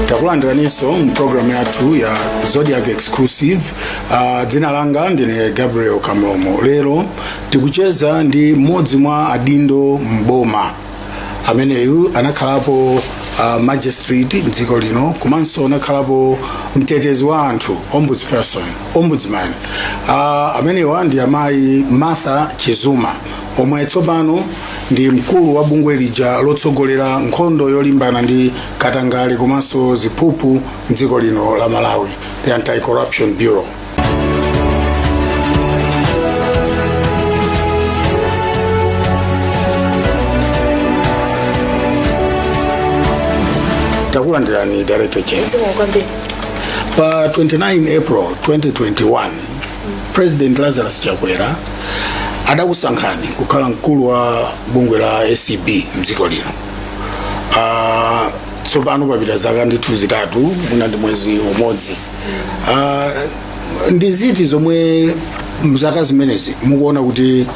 takulandiraninso mpulogalamu yathu ya zodiak exclusive uh, dzina langa ndine gabriel kamlomo lero tikucheza ndi mmodzi mwa adindo mboma ameneyu anakhalapo uh, magistrate mdziko lino komanso anakhalapo mtetezi wa anthu ombudsperson ombudsman uh, amenewa ndi amayi martha chizuma omwe tsopano ndi mkulu wa bungwe lija lotsogolera nkhondo yolimbana ndi katangale komanso ziphuphu mdziko lino la malawi the anti-corruption bureau takulandirani director chizuma Zikomo kwambiri. pa 29 april 2021 president lazarus chakwera adakusankhani kukhala mkulu wa bungwe la acb mdziko lino Ah, tsopano papita zaka ndithu zitatu mwina ndi mwezi umodzi Ah, ndi ziti zomwe mzaka zimenezi mukuona kuti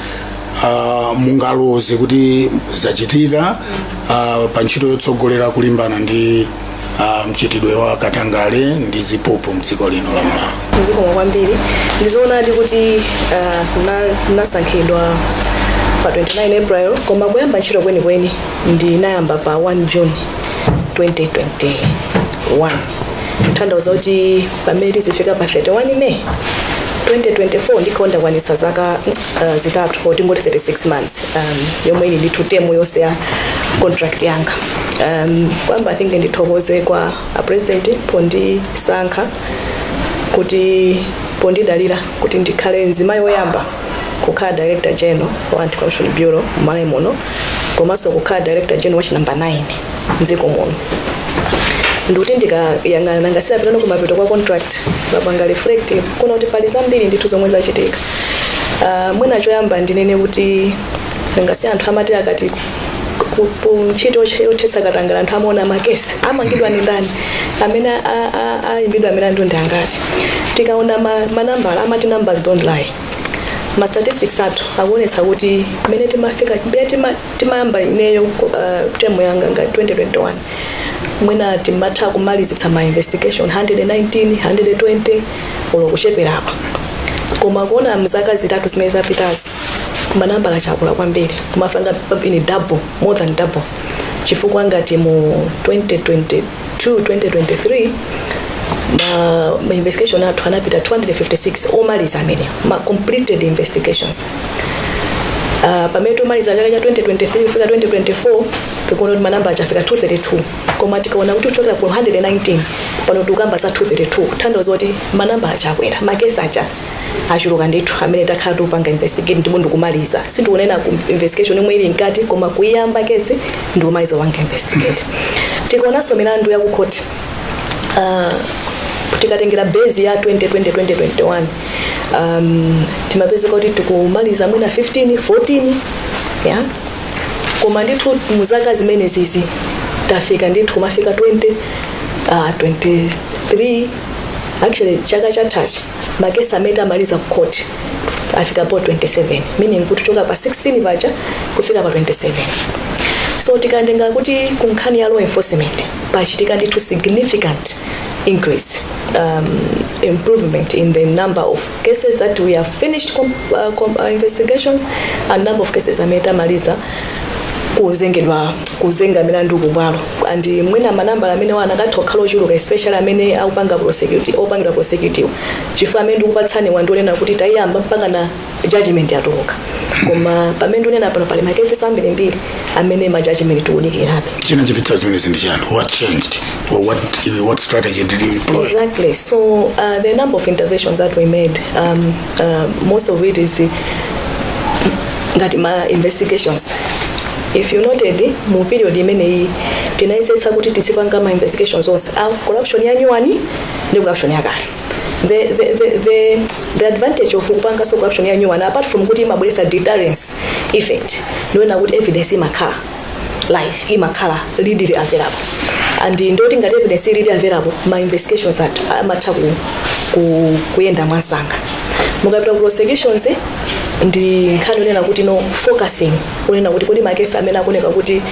ah, mungaloze kuti zachitika ah, pa ntchito yotsogolera kulimbana ndi ah, mchitidwe wa katangale ndi ziphuphu mdziko lino la malawi zikomo kwambiri ndizoonadi kuti ah, mna- mnasankhidwa pa 29 april koma kuyamba ntchito kwenikweni ndinayamba pa 1 june 2021 tanthauza kuti pamene tizifika pa 31 may 2024 ndikhala ndakwanisa zaka uh, zitatu or tingoti 36 months um, yomwe ili ndithu temu yonse ya contract yanga um, koyamba i think ndithokoze kwa a president pondisankha kuti pondidalira kuti ndikhale mzimayi woyamba kukhala director general wa anti corruption bureau mmalawi muno komanso kukhala director general wa chinambala 9 mdziko muno ndikuti ndikayang'ana nanga si apa tsopano kumapeto kwa contract umapanga reflect kuona kuti pali zambiri ndithu zomwe zachitika uh, mwina choyamba ndinene kuti nanga si anthu amati akati ku- ku ntchito yothe- yothesa katangala anthu amaona makesi amangidwa ndi ndani amene a- a- a- ayimbidwa amene amangidwawo ndi angati tikaona ma- manambala amati numbers don't lie ma statistics athu akuonetsa kuti mmene timafika mmene tima- timayamba ineyo uh, temu yanga nga 2021 mwina timatha kumalizitsa ma investigation 119 120 olo kucheperako koma kuona mzaka zitatu zimene zapitazi manambala akula kwambiri kumapanga ngati double more than double chifukwa ngati mu 2022 2023 ma, ma investigation athu anapita 256 omaliza amene ma completed investigations Uh, pamene timamaliza chaka cha 2023 kufika 2024 tikuona kuti manambala afika 232 koma tikaona kuti kuchokera ku 119 pano tikukamba za 232 kutanthauza kuti manambala akwera makesi achuluka ndithu amene takhala tikupanga investigate ndipo ndikumaliza sindikunena za investigation yomwe ili mkati koma kuyamba kesi ndikumaliza kupanga investigate tikaonanso milandu ya kukhoti uh, tikatengera base ya 2020 2021 um, timapezeka kuti tikumaliza amene mwina 15 14 koma ndithu mu zaka zimenezizi tafika ndithu kumafika 20 uh, 23 actually chaka chathachi makesi amene tamaliza ku court afika po 27 meaning kuchoka pa 16 paja kufika pa 27 so tikatenga kuti ku nkhani ya law enforcement pachitika ndithu significant increase um, improvement in the number of cases that we have finished com uh, com uh, investigations and number of cases amene tamaliza kuzengedwa kuzenga milandu kubwalo and mwina manambala amenewa anakatha kukhala ochuluka especially amene akupanga prosecute opangidwa prosecutiwa chifukwa amene ndikupatsaniwa ndi onena kuti tayiyamba mpaka na judgment yatuluka koma pamene ndinena pano pali makesi ambirimbiri amene ma judgment tikudikirabe chinachititsa zimenezi ndi chani what changed or what, what strategy did you employ Exactly. So uh, the number of interventions that we made, um, uh, most of it is uh, ngati ma investigations. If you noted, mu period imeneyi tinayesetsa kuti tizipanga ma investigations onse a corruption ya nyuwani ndiponso corruption yakale. the, the, the, the, the advantage of kupangaso corruption ya new one apart from kuti imabweretsa deterrence effect ndi yoti evidence imakhala live imakhala readily available and ndiye kuti ngati evidence ili readily available ma investigations at- amatha ku, ku, kuyenda mwamsanga mukapita ku prosecutions eh, ndi nkhani yonena kuti no focusing onena kuti kodi makesi amene akuoneka kuti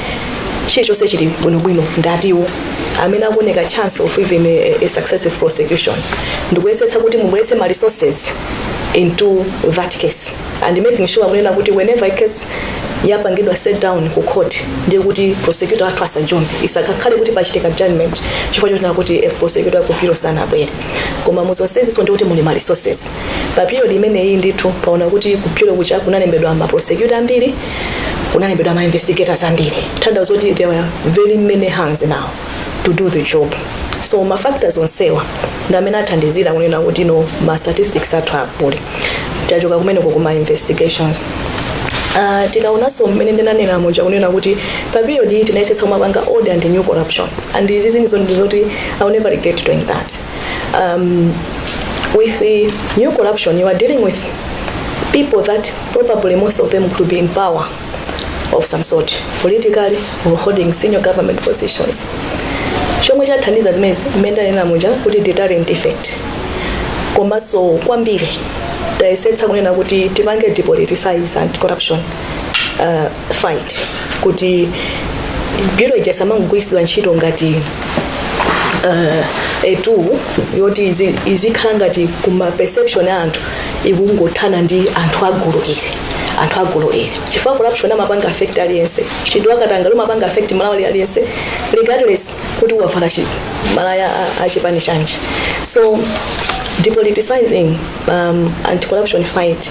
chilichonse chili bwinobwino ndi atiwo amene akuoneka chance of even a, a successful prosecution ndikuyesetsa kuti mubweretse ma resources into that case and making sure kunena kuti whenever a case yapangidwa set down ku court ndiye kuti ma prosecutor athu asajombe isakakhale kuti pachitika adjournment chifukwa chonena kuti a prosecutor ku bureau sanabwere koma muzonsezinso ndi kuti muli ma resources pa period imeneyi ndithu taona kuti ku bureau kucha kunalembedwa ma prosecutor ambiri kunalembedwa ma investigators ambiri kutanthauza zoti there were very many hands now to do the job so ma factors onsewa ndi amene athandizira kunena kuti no ma statistics athu akwere tachoka kumeneko kuma investigations Uh, tikaonanso mmene ndinanena muja kunena kuti pa period iyi tinayesetsa kumapanga old and new corruption and izi zimenezo ndi zoti i will never regret doing that um, with the new corruption you are dealing with people that Probably most of them could be in power of some sort, politically or holding senior government positions. Chomwe chathandiza zimenezi mmene ndanena muja kuti deterrent effect. Komanso kwambiri tayesetsa kunena kuti tipange depoliticize anti-corruption uh, fight kuti bureau ija samangogwiritsidwa ntchito ngati uh, a tool yoti izi- izikhala ngati kuma perception a anthu ikungothana ndi anthu a gulu ili anthu a gulu ili chifukwa corruption imapanga affect aliyense vuto la katangale limapanga affect Mmalawi aliyense regardless kuti wavala chi- malaya a- a chipani chanji so depoliticizing um, anti corruption fight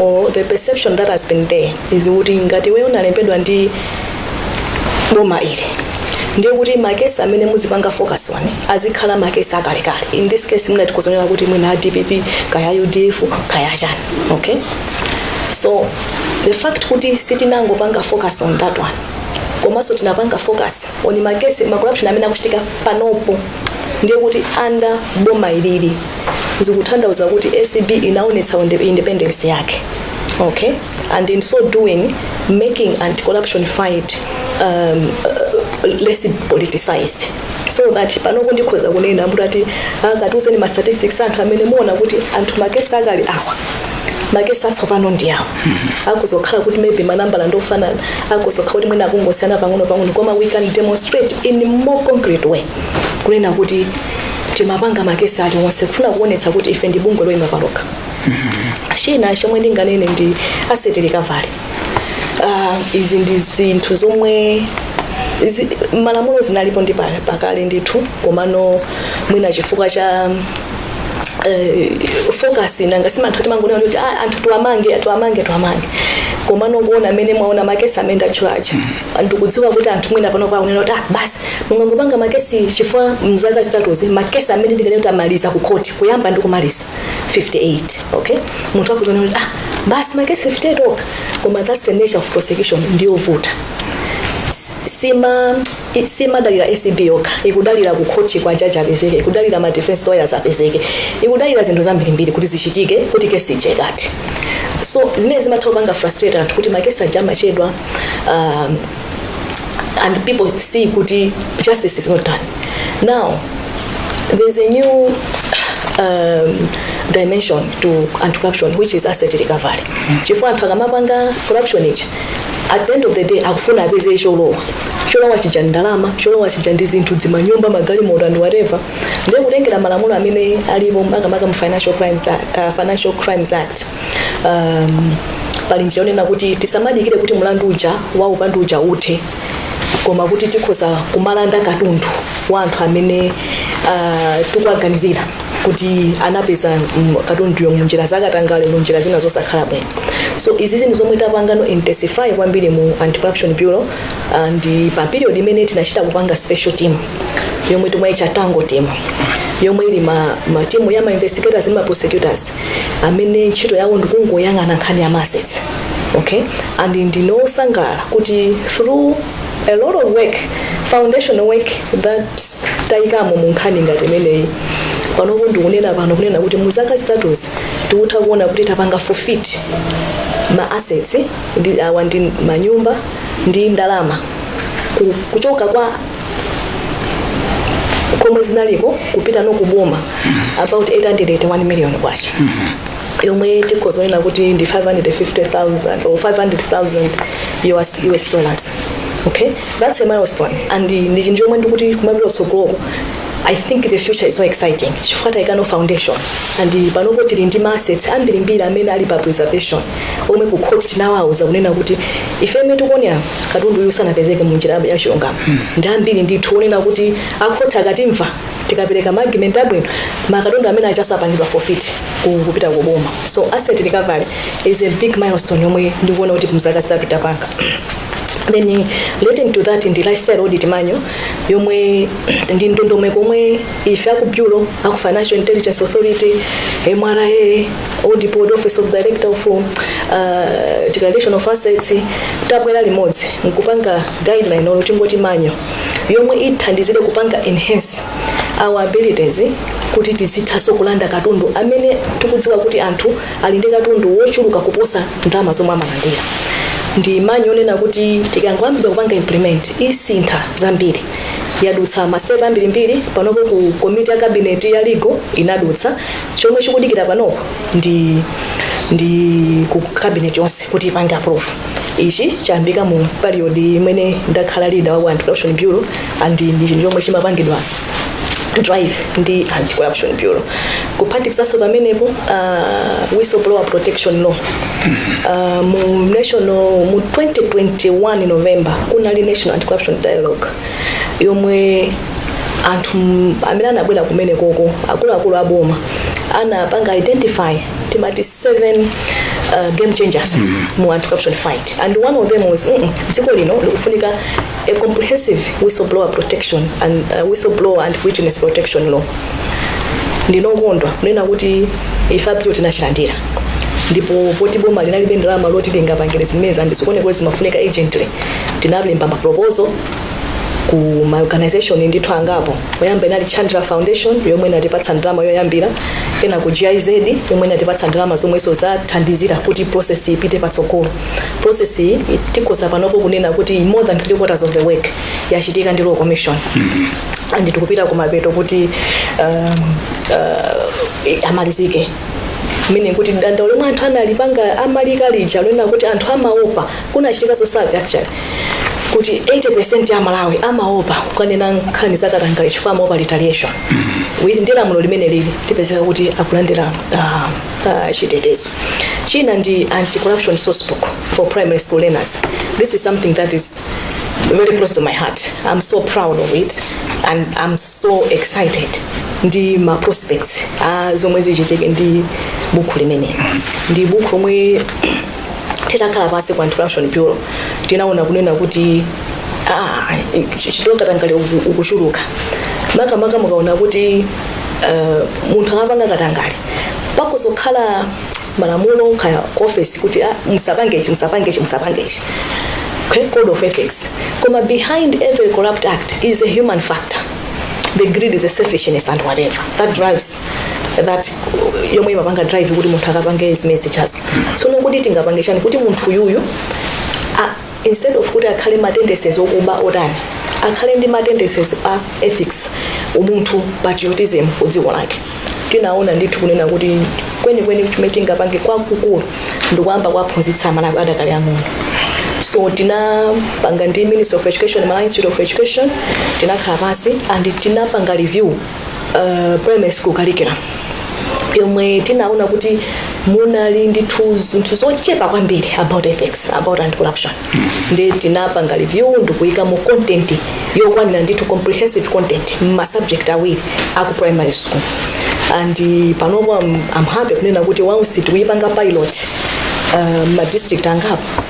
or the perception that has been there is kuti ngati iwe unalembedwa ndi boma ili ndiye kuti makesi amene muzipanga focus on azikhala makesi akalekale in this case mwina tikhoza kunena kuti mwina a dpp kaya udf kaya chani okay so the fact kuti sitinangopanga focus on that one komanso tinapanga focus on makesi macorruption amene akuchitika panopo ndiye kuti under boma ili zikutanthauza kuti acb inaonetsa unde- independence yake okay and in so doing making anti-corruption fight um, uh, less politicized so that panopo ndikhoza kunena kuti ati akatiuzeni ma statistics anthu amene amaona kuti anthu makesi akale ndi awa makesi atsopano ndi awo zikhoza kukhala kuti maybe manambala ndofanana zikhoza kukhala kuti mwina akungosiyana pang'ono pang'ono koma we can demonstrate in more concrete way kunena kuti timapanga makesi aliwonse kufuna kuonetsa kuti ife ndi bungwe loyima palokha china chomwe ndinganene ndi asset recovery uh, izi ndi zinthu zomwe zi, m'malamulo zinalipo ndi pa- pakale ndithu komano mwina chifukwa cha eh, focus nanga si anthu timangonena kuti "Ah, anthu tiwamange tiwamange tiwamange koma nokuona amene mwaona makesi amene ndatchulawo ndikudziwa kuti anthu mwina pano amanena kuti ah, basi mungangopanga makesi chifukwa mzaka zitatuzi makesi amene ndikanena kuti amaliza ku khoti kuyamba ndi kumaliza 58 okay munthu akhoza kuona kuti ah, basi makesi 58 okha koma that's the nature of prosecution ndiyovuta sima i- simadalira acb yokha ikudalira ku khoti kuti jaji apezeke ikudalira ma defense lawyers apezeke ikudalira zinthu zambirimbiri kuti zichitike kuti kesi ichekate so zimene zimatha kupanga frustrate anthu kuti makesi aja amachedwa um, and people see kuti justice is not done now there's a new um, dimension to anti corruption which is asset recovery chifukwa anthu akamapanga corruption ichi at the end of the day akufuna apeze cholowa cholowa chija ndalama cholowa chija ndi zinthu zimanyumba magalimoto and whatever ndiye kutengera malamulo amene alipo makamaka mu financial crimes act, uh, financial crimes act um, pali njira yonena kuti tisamadikire kuti mlandu uja wa upandu uja uthe koma kuti tikhoza kumalanda katundu wa anthu amene uh, tikuwaganizira kuti anapeza mm, katunduyo munjira zakatangale munjira zina zosakhala bwino so izi ndi zinthu zomwe tapanganso intensify kwambiri mu anti-corruption bureau and pa period imene tinachita kupanga special team yomwe timayicha tango team yomwe ili ndi ma, ma team ya ma investigators ndi ma prosecutors amene ntchito yawo ndikungoyang'ana nkhani ya ma assets okay and ndine osangalala kuti through a lot of work foundation work that tayikamo mu nkhani ngati imeneyi panopo ndikunena pano kunena kuti mu zaka zitatuzi tikutha kuona kuti tapanga forfeit ma assets ndiye awa ndi manyumba ndi ndalama ku- kuchoka kwa komwe zinaliko kupita ku boma about 881 million kwacha yomwe tikhoza kunena kuti ndi 550,000 or 500,000 US, US dollars okay that's a milestone and ndi chinthu chomwe ndikuti kumapita kutsogoloko I think the future is so exciting chifukwa taika foundation and panopo tili ndi ma assets ambirimbiri amene ali pa preservation omwe ku court tinawauza kunena kuti ife mmene tikuonera katundu uyu sanapezeke mu njira ya chilungamo ndi ambiri ndithu onena kuti akhoti akatimva tikapereka ma argument abwino makatundu amene aja azapangidwa forfeit ku- kupita ku boma so asset recovery is a big milestone yomwe ndikuona kuti mzaka zitatu tapanga then eh, relating to that ndi lifestyle audit manual yomwe ndi ndondomeko yomwe ife aku bureau aku financial intelligence authority mra audit board office of director of uh, declaration of assets tabwera limodzi nkupanga guideline olo tingoti manual yomwe ithandizire kupanga enhance our abilities kuti tizithanso kulanda katundu amene tikudziwa kuti anthu ali ndi katundu wochuluka kuposa ndalama zomwe amalandira ndi manual yonena kuti ikangoyambidwa kupanga implement isintha zambiri yadutsa ma step ambirimbiri panopo ku komiti ya kabineti ya legal inadutsa chomwe chikudikira panopo ndi ndi ku kabineti yonse kuti ipange approve ichi chayambika mu period imene ndakhala leader wa anti corruption bureau and ndi chinthu chomwe chimapangidwa drive ndi anti corruption bureau kuphatikizanso pamenepo uh, whistleblower protection law uh, mu national mu 2021 november kunali national anti corruption dialogue yomwe anthu m- amene anabwera kumeneko akuluakulu aboma anapanga identify timati seven uh, game changers mu anti-corruption fight and one of them was mm -mm, dziko lino likufunika a comprehensive whistleblower protection and uh, whistleblower and witness protection law ndinokondwa kunena kuti ife apilo tinachilandira ndipo poti boma linalibe ndalama zoti lingapangire zimenezi and zikuoneka kuti zimafunika urgently tinalemba maproposal ku ma organization ndithu angapo oyamba inali Chandler foundation yomwe inatipatsa ndalama yoyambira ena ku giz yomwe inatipatsa ndalama zomwenso zathandizira kuti process iyi ipite patsogolo process iyi tikhoza panopo kunena kuti more than three quarters of the work yachitika ndi law commission and tikupita kumapeto kuti um, uh, amalizike ndiye kuti dandaulo lomwe anthu amalipanga amalikamba lija lona kuti anthu amaopa kunachitikanso survey actually kuti 80% ya aMalawi amaopa kukanena nkhani za katangale chifukwa amaopa retaliation Wi- ndi lamulo limene ili tipezeka kuti akulandira ah, ah, chitetezo china ndi anti-corruption sourcebook for primary school learners this is something that is very close to my heart i'm so proud of it and i'm so excited ndi ma prospects ah, zomwe zichitike ndi buku limeneli ndi buku lomwe titakhala pansi ku anti-corruption bureau tinaona kunena kuti ah, chi- chifukwa katangale uku- ukuchuluka makamaka mukaona kuti eh, munthu akapanga katangale pakutokhala malamulo kaya ku office kuti ah, musapange ichi musapange ichi musapange ichi Okay, code of ethics koma behind every corrupt act is a human factor the greed the selfishness and whatever that drives that yomwe imapanga drive kuti munthu akapange zimene zijazo so ndikuti tingapange chani kuti munthu yuyu a- instead of kuti akhale ma tendencies okuba otani akhale ndi ma tendencies a ethics umunthu patriotism ku dziko lake tinaona ndithu kunena kuti kwenikweni chimene tingapange kwakukulu ndikuyamba kuwaphunzitsa amalawi adakali ang'ono so tinapanga ndi ministry of education malawi institute of education tinakhala pansi and tinapanga review uh, primary school curriculum yomwe tinaona kuti munali ndithu zinthu zochepa kwambiri about ethics about anti corruption ndi tinapanga review ndikuyika mu content yokwanira ndithu comprehensive content m'ma subject awiri aku primary school and uh, panopo I'm, I'm happy kunena kuti source tikuyipanga pilot uh, m'ma district angapo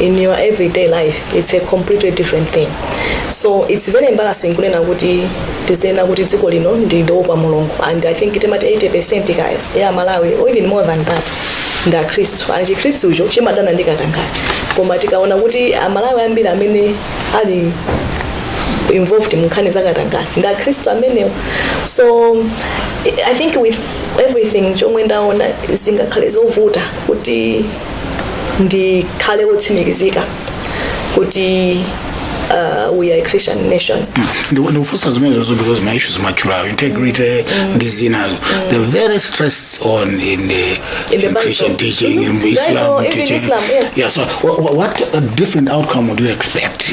in your everyday life it's a completely different thing so it's very embarrassing kunena kuti tidzinena kuti dziko lino ndi loopa mulungu and i think timati 80 percent kaya ya amalawi or even more than that ndi akhristu and chikhristucho chimadana ndi katangale koma tikaona kuti amalawi ambiri amene ali involved mu nkhani za katangale ndi akhristu amenewo so i think with everything chomwe ndaona zingakhale zovuta kuti ndikhale wotsimikizika kuti uh, we are a christian nation Ndi- ndikufunsa zimenezo zonse because ma issues mwatchulawo integrity ndi zinazo they're very stressed on in the, In the in christian Bible. teaching in Mhm. islam Bible, even teaching Islam, yes. yeah so why wha- what a different outcome would you expect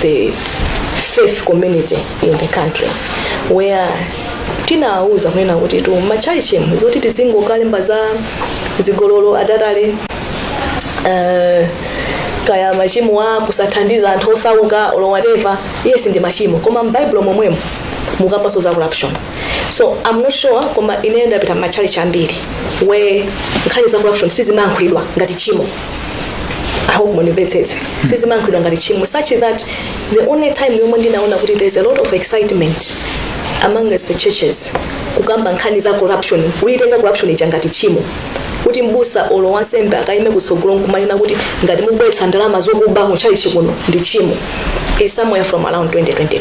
the faith community in the country where tinawuza kunena kuti mmatchalichi umu zoti tidzingokalemba za zigololo akatangale uh, kaya machimo a kusathandiza anthu osauka or whatever yes ndi machimo koma m'baibulo momwemo mukukambanso za corruption so i'm not sure koma ine ndapita matchalichi ambiri where nkhani za corruption sizimayankhulidwa ngati chimo I hope munimvetsetse sizimayankhulidwa ngati chimo such that the only time yomwe ndinaona kuti there's a lot of excitement among us the churches kukamba nkhani za corruption kuyitenga corruption ija ngati chimo kuti mbusa olo wansembe akaime kutsogolo nkumanena kuti ngati mubweretsa ndalama zokuba mu chalichi kuno ndi chimo is somewhere from around 2022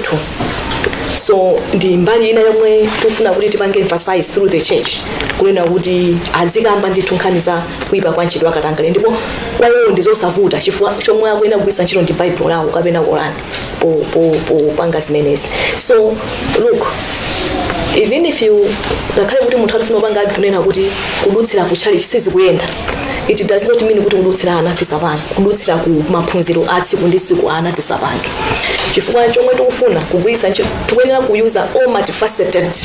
so ndi mbali ina yomwe tikufuna kuti tipange emphasize through the church kunena kuti adzikamba ndithu nkhani za kuipa kwa mchitidwe wakatangale ndipo kwa iwo ndi zosavuta chifukwa chomwe akuyenera kugwiritsa ntchito ndi baibulo lawo kapena korani po- po- popanga zimenezi so look even if you ngakhale kuti munthu atafuna kupanga argue kunena kuti kudutsira ku chalichi sizikuyenda it does not mean kuti kudutsira ana tisapange kudutsira ku maphunziro a tsiku ndi tsiku ana tisapange chifukwa chomwe tikufuna kugwiritsa ntchito tikuyenera kuyuza all multifaceted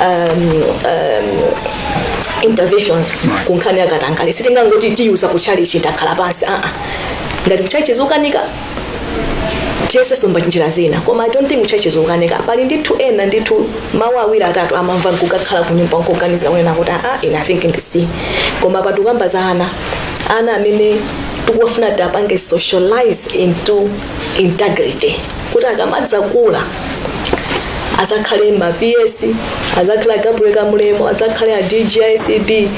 um, um, interventions ku nkhani yakatangale sitingangoti tiyuza ku chalichi takhala pansi aa ngati kuchalichi zikukanika tiyesenso mwa njira zina koma i don't think kuchalichi zikukanika pali ndithu ena ndithu mawu awiri atatu amamva nkukakhala ku nyumba nkuganiza kunena kuti aa ine i think ndisiye koma apa tikukamba za ana ana amene tikuwafuna kuti apange socialize into integrity kuti akamadzakula adzakhale ma PS adzakhale Gabriel Kamulemo adzakhale a DG ACB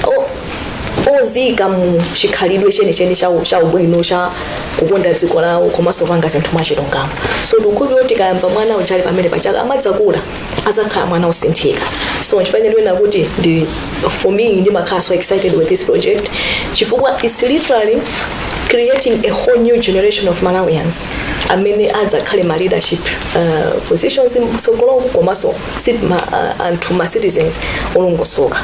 o- ozika mu chikhalidwe chenicheni cha u- cha ubwino cha kukonda dziko lawo komanso kupanga zinthu mwachilungamo so ndikukhulupira kuti tikayamba mwana uchali pamene pachaka akamadzakula adzakhala mwana osinthika so nchifukwa ndikuona kuti ndi for me ndimakhala so excited with this project chifukwa it's literally creating a whole new generation of malawians amene adzakhale ma leadership uh, positions mtsogoloku komanso sit- ma, uh, anthu ma citizens olongosoka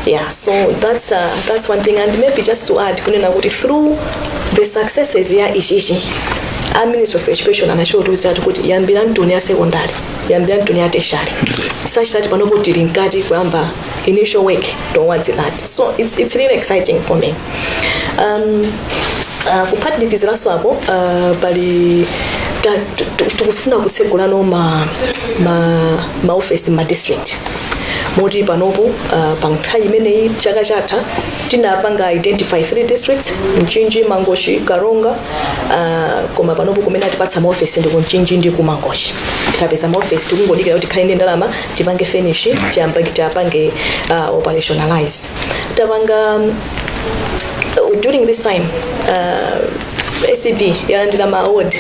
yeah so that's, uh, that's one thing and maybe just to add kunena kuti through the successes ya ichichi a ministry of education anatiuza ati kuti yambani mbuku ya secondary yambani mbuku ya tertiary such that panopo tili mkati kuyamba initial work towards that so it's, it's really exciting for me um, uh, kuphatikiziranso apo uh, pali ta- tu- tu- tikufuna kutsegulanso ma, ma, ma office ma district moti panopo uh, pa nthawi imeneyi chaka chatha tinapanga identify three districts mchinji mangochi karonga uh, koma panopo kumene atipatsa maofesi ndi ku mchinji ndi ku mangochi tinapeza maofesi tikungodikira kuti tikhale ndi ndalama tipange finish tiyamba tiyapange uh, operationalize tapanga um, during this time uh, acb yalandira ma award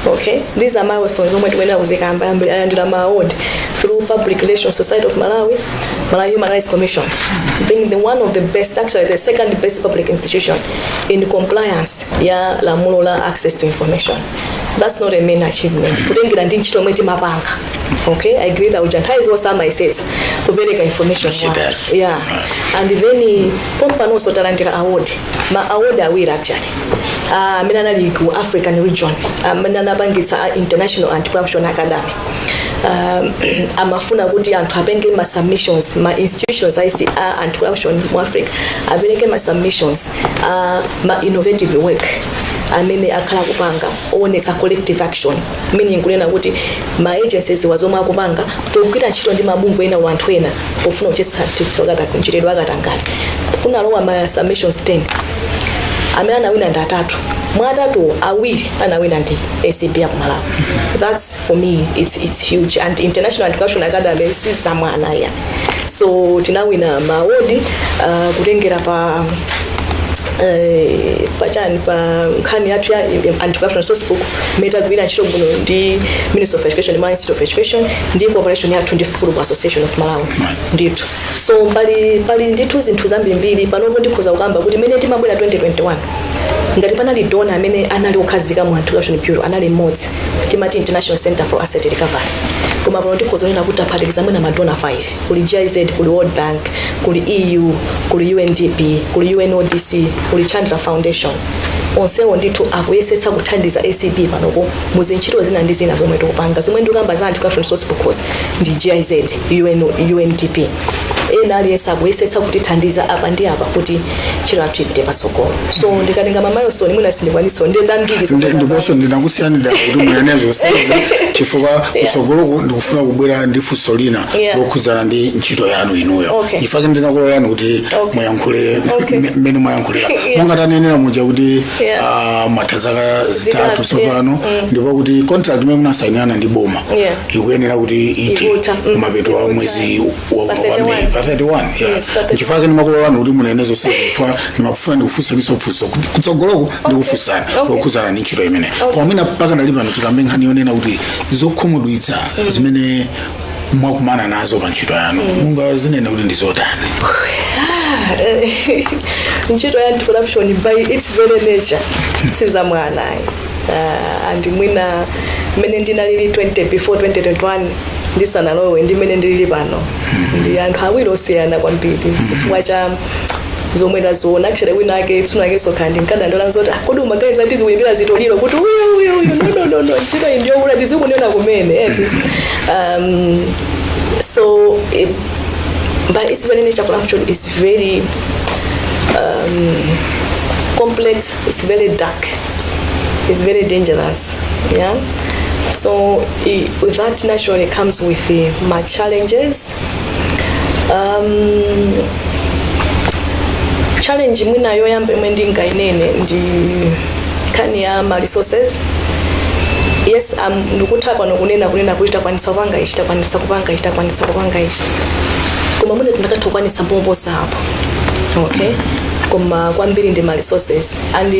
okay these are milestones zomwe tikuyenera kuzikamba yambiri alandira ma award through public relations society of malawi malawi human rights commission being the one of the best actually the second best public institution in compliance ya lamulo la access to information that's not a main achievement kutengera ndi ntchito yomwe timapanga okay i agree that uja nthawi zonse amayesetsa kupereka information She does. yeah and then pompanonso talandira award ma award awiri actually Ah, amene anali ku african region amene anapangitsa a international anti-corruption academy um, amafuna kuti anthu apange ma submissions ma institutions a za anti-corruption mu africa apereke ma submissions uh, ma innovative work amene akhala akupanga owonetsa collective action meaning kunena kuti ma agencies za zomwe akupanga pogwira ntchito ndi mabungwe ena or anthu ena pofuna kuthetsa mchitidwe wa katangale kunalowa ma submissions 10 amene anawina ndi atatu mwa atatuwo awiri anawina ndi acb ya ku malawi that's for me it's, it's huge and international anti-corruption academy si zamwana ayi so tinawina maawodi uh, kutengera pa eh, pachani pa nkhani yathu ya anti-corruption source book imene tagwira ntchito bwino ndi ministry of education malawi institute of education ndi cooperation yathu ndi football association of malawi ndithu so pali pali ndithu zinthu zambirimbiri panopo ndikhoza kukamba kuti imene timabwera 2021 ngati panali donor amene anali okhazika mu anti-corruption bureau anali mmodzi timati international center for asset recovery koma pano tikhoza kunena kuti taphatikiza mwina ma donor 5 kuli giz kuli world bank kuli eu kuli undp kuli unodc kuli chandra foundation onsewo ndithu akuyesetsa kuthandiza acb panopo mu zintchito zina ndi zina zomwe tikupanga zomwe ndikukamba za anti corruption source books ndi giz undp ena aliyense akuyesetsa kutithandiza apa ndi apa kuti ntchito yathu ipite patsogolo so ndikatenga kumawatchula mwina sindikwanitsa ndiye zambiri Ndi- zokamba. ndiponso ndinakusiyanira kuti muyanene zonsezi chifukwa kutsogoloku ndikufuna kubwera ndi funso lina Yeah. lokhudzana ndi ntchito yanu inuyo Okay. chifukwa chimene ndinakulolani kuti Okay. muyankhule Okay. m- mmene muyankhulira Yeah. monga tanenera muja kuti Yeah. ah, mwatha zaka zitatu Zitatu, yeah. tsopano ndipo kuti contract imene munasayinirana ndi boma Yeah. ikuyenera kuti ithe Ikutha, mm, mapeto a ikutha. mwezi wa- Pa wa- wa 31. May, pa 31 Yes, pa 31. chifukwa chake ndimakulolani kuti munene zonse chifukwa ndimafuna ndikufunseni funso kutsogoloko ndikufunsani Okay. lokhudzana ndi ntchito imene Okay. koma pakadali pano tikambe nkhani yonena kuti zokhumudwitsa zimene mwakumana nazo pa ntchito yanu mungazinene kuti ndi zotani ntchito ya anti-corruption by its very nature sizamwana ayi uh, and mwina mmene ndinalili 20 before 2021 ndisanalowe ndi mmene ndilili pano ndi anthu awiri osiyana kwambiri chifukwa cha zomwe taziona actually wina ake tsiku lake nditakhala ndinkadandaula zoti "Ah, kodi umaganiza kuti zikuyimira zitoliro kuti uyu uyu uyu no no no no ntchito iyi ndiyokula ndizikunena kumene eti um, so eh, but it's very nature corruption is very um, complex it's very dark is very dangerous yeah so i- that naturally comes with uh, ma challenges um, challenge mwina yoyamba imwe ndingainene ndi nkhani ya ma resources yes um, ndikutha pano kunena kunena kuti takwanitsa kupanga ichi takwanitsa kupanga ichi takwanitsa kupanga ichi koma mwina tinakatha kukwanitsa kuposa apo okay koma kwambiri ndi ma resources and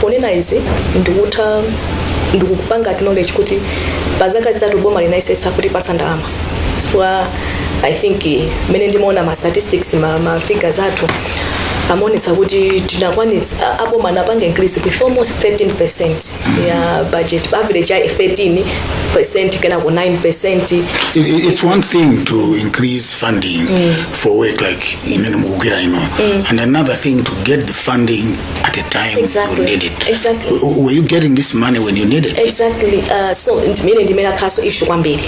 ponena izi ndikutha ndikupanga acknowledge kuti pa zaka zitatu boma linayesetsa kutipatsa ndalama chifukwa i think eh, mmene ndimaona ma statistics ma, ma figures athu amaonetsa kuti tinakwanitsa a- aboma anapanga increase with almost 13 percent ya budget average ya 13 percent kenako 9 percent It, it- it's one thing to increase funding for work like imene mukugwira ino and another thing to get the funding at a time Exactly. you need it. Exactly. W- w- Were you getting this money when you need it? exactly uh, so ndimene ndimene akhaso issue kwambiri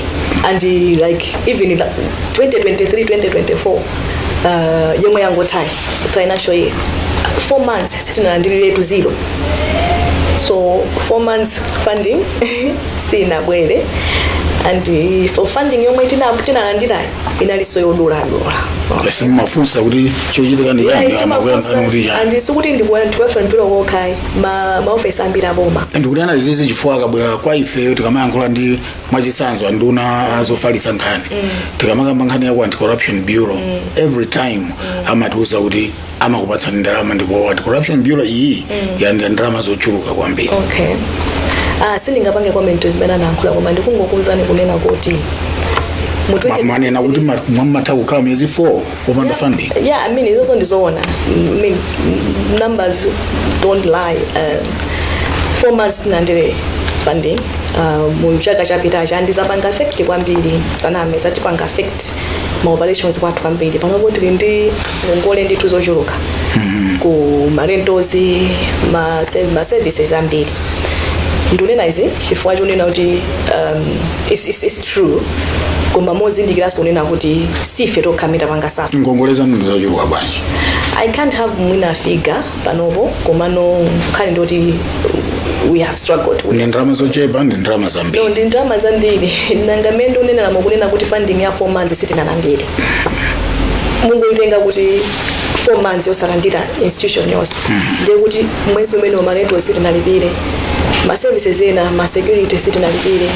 and uh, like even if, uh, 2023 2024 uh, yomwe yangotayi financial year four months sitinalandilire to zero so four months funding sinabwere and uh, for funding yomwe tina- tinalandirayo inalinso yoduladula basi mumafunsa kuti chochitika ndi chani amakuyankhani kuti chani andi sikuti ndikuyankhulira mbali yokhayi ma maofesi ambiri aboma ndikutha kunena izi chifukwa akabwera kwa ifeyo tikamayankhula ndi mwachitsanzo anduna azofalitsa nkhani tikamakamba nkhani ya ku anti corruption bureau every time amatiuza kuti amakupatsani ndalama ndipo Anti Corruption bureau iyi yalandira ndalama zochuluka kwambiri okay ah, sindingapange comment zimene anayankhula koma ndikungokuuzani kunena kuti mu Ma- munanena kuti ma- mumatha kukhala miyezi 4 opanda funding yeah i mean izozo ndizoona I mean, numbers don't lie um, four months tisanalandire funding uh, mu chaka chapitacha and zapanga affect kwambiri sindiname zatipanga affect ma operations athu kwambiri panopo tili ndi ngongole ndithu zochuluka ku ma rentals ma, se- ma services ambiri ndikunena izi chifukwa chonena kuti um, it's, it's, it's true koma mozindikiranso kunena kuti sife tokha amene tapanga safa ngongole zanu ndizochuluka bwanji i can't have mwina figure panopo komano nkhani ndi yoti we have struggled with ndi ndalama zochepa ndi ndalama no zambiri ndi ndalama zambiri nanga mmene ndikunenera mukunena kuti funding ya four months sitinalandire mungotenga kuti four months yosalandira institution yonse ndiye kuti mwezi umenewu ma rent sitinalipire ma services ena ma security sitinalipire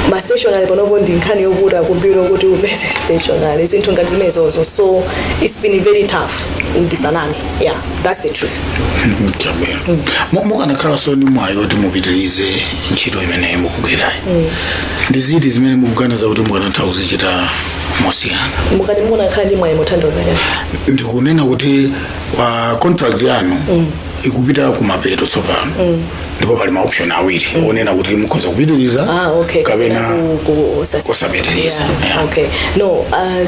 ma stationery panopo ndi nkhani yovuta ku bureau kuti upeze stationery zinthu ngati zimenezozo so it's been very tough ndisaname yeah that's the truth Mchabwera. Mu- mukanakhala nawonso mwayi kuti mupitirize ntchito imeneyi mukugwirayi ndi ziti zimene mukuganiza kuti mukanatha kuzichita mosiyana mukati mukanakhala ndi mwayi mongothandiza kani ndikunena kuti wa contract yanu ikupita kumapeto tsopano ndipo pali ma option awiri onena kuti mukhoza kupitiriza ah okay kapena Ku- ku- sas- kusapitiriza Yeah, Yeah. okay no uh,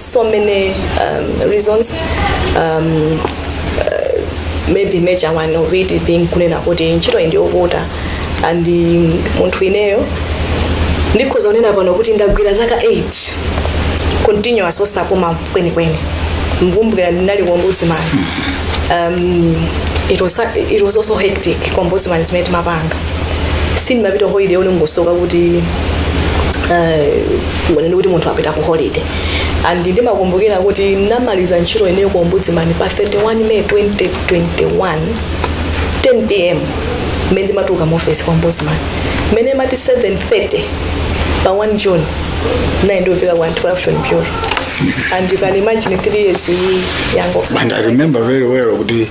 so many um, reasons um, uh, maybe major one of it is being kunena kuti ntchito iyi ndiyovuta and um, munthu ineyo ndikhoza kunena pano kuti ndagwira zaka 8 continuous osapuma kwenikweni mukumbukira ndinali ku ombudsman um, it, was, it was also hectic ku ombudsman zimene timapanga sindimapita holiday yoneneka kuti unene eh, kuti munthu apita ku holiday and ndimakumbukira kuti ndamaliza ntchito ineyo ku ombudsman pa 31 may 2021 10 pm mmene ndimatuluka mu office ku ombudsman mmene mati 730 pa 1 june ndinali nditafika ku anti-corruption bureau and you can imagine three years yango and i remember very well kuti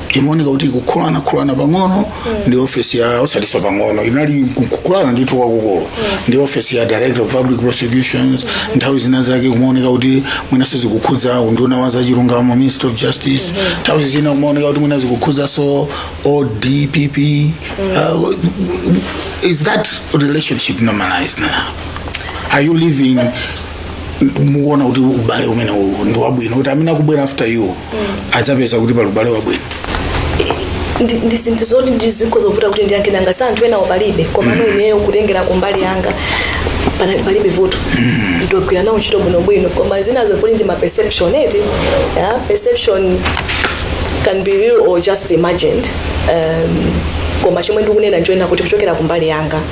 imaoneka kuti kukhulanakhulana pang'ono ndi ofesi ya osatisa pang'ono inali kukhulana ndithu kwakukulu ndi ofesi ya director of public prosecutions nthawi zina zake kumaoneka kuti mwinanso zikukhudza unduna wa zachilungamo minister of justice nthawi zina kumaoneka kuti mwina zikukhudzanso o DPP uh, is that relationship normalized now are you living mukuona kuti ubale umene uwu ndi wabwino kuti amene akubwera after you adzapeza kuti pali ubale wabwino ndi ndi zinthu zoti ndi zikho zovuta kuti ndiyankhe nanga za anthu enawo palibe komano ineyo kutengera kumbali yanga panali palibe vuto ndagwira nawo ntchito bwinobwino koma zinazo zoti ndi ma perception eti yeah? perception can be real or just imagined um, koma chomwe ndikunena nchonena kuti kuchokera kumbali yanga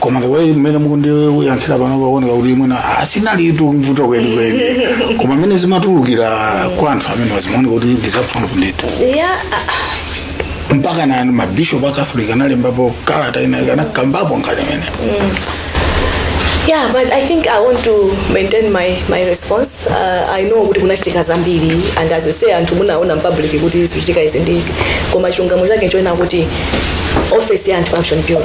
koma the way mmene mukundiyankhira pano paoneka kuti mwina ah, silinalitu vuto kwenikweni koma mmene zimatulukira kwa anthu amene zimaoneka kuti ndizamphamvu ndithu ya ah, mpaka na mabishop a catholic analembapo kalata ina inakambapo nkhani imene yeah but i think i want to maintain my, my response uh, i know kuti kunachitika zambiri and as you say anthu munaona mpublic kuti zikuchitika izi ndi izi koma chilungamo chake nchonena kuti office ya anti corruption bureau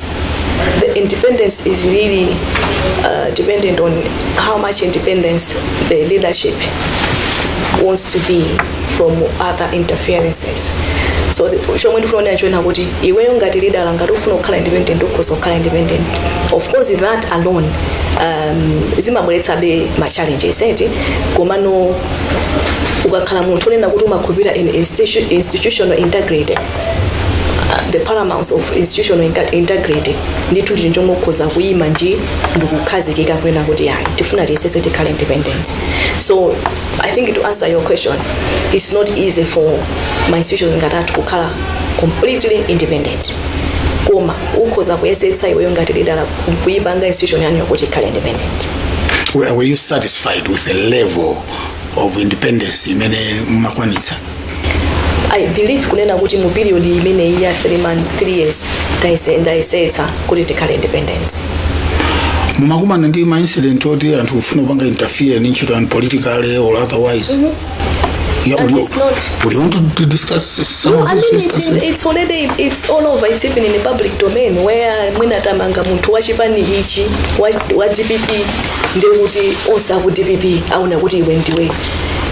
the independence is really uh, dependent on how much independence the leadership wants to be from other interferences so the- chomwe ndikunena nchonena kuti iweyo ngati leader ngati ufuna kukhala independent ukhoza kukhala independent of course that alone um, zimabweretsabe ma challenges eti komano ukakhala munthu onena kuti umakhulupirira in institu- institutional integrity uh, the paramount of institutional inter- integrity ndithu ndiye ukhoza kuyima nji ndikukhazikika kunena kuti ayi tifuna tiyesetse tikhale independent so i think to answer your question it's not easy for ma institutions ngati athu kukhala completely independent koma ukhoza kuyesetsa iweyo ngati leader kuyipanga institution yanu yokuti ikhale independent were, were you satisfied with the level of independence imene mumakwanitsa i believe kunena kuti mu period imeneyi ya 3 months 3 years ndayese- ndayesetsa kuti ndikhale independent mumakumana ndi ma incident oti anthu kufuna kupanga interfere ndi ntchito yanu politically or otherwise Yeah, That we- is not- we want to- to discuss some No, of I these mean it's, in, instances. it's already it's all over. It's even in the public domain where mwina tamanga munthu wa chipani ichi wa, wa DPP ndiye kuti onse aku DPP aona kuti iwe ndiwe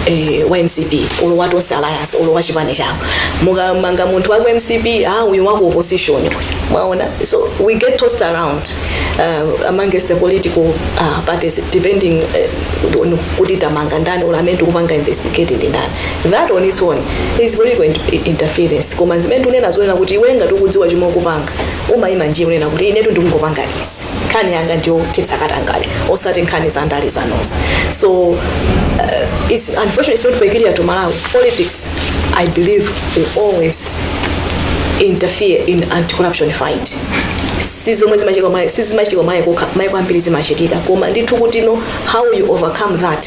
eh, wa mcp olo wa tonse alliance olo wa chipani chawo mukamanga munthu wa ku mcp ah, uyu wa ku opposition uyu. mwaona so we get tossed around uh, amongst the political uh, parties depending uh, on kuti tamanga ndani olo amene tikupanga investigate ndi ndani that on its own is political in- interference koma zimene tunena zonena kuti iwe ngati ukudziwa chomwe ukupanga umayima nji kunena kuti inetu ndikungopanga izi nkhani yanga ndiyo thetsa katangale osati nkhani za ndale zanozi so uh, it's unfortunately it's not peculiar to malawi politics i believe will always interfere in anti-corruption fight sizomwe zimachitika Mala- sizimachitika Malawi yekha maiko ambiri zimachitika koma ndithu kutino how you overcome that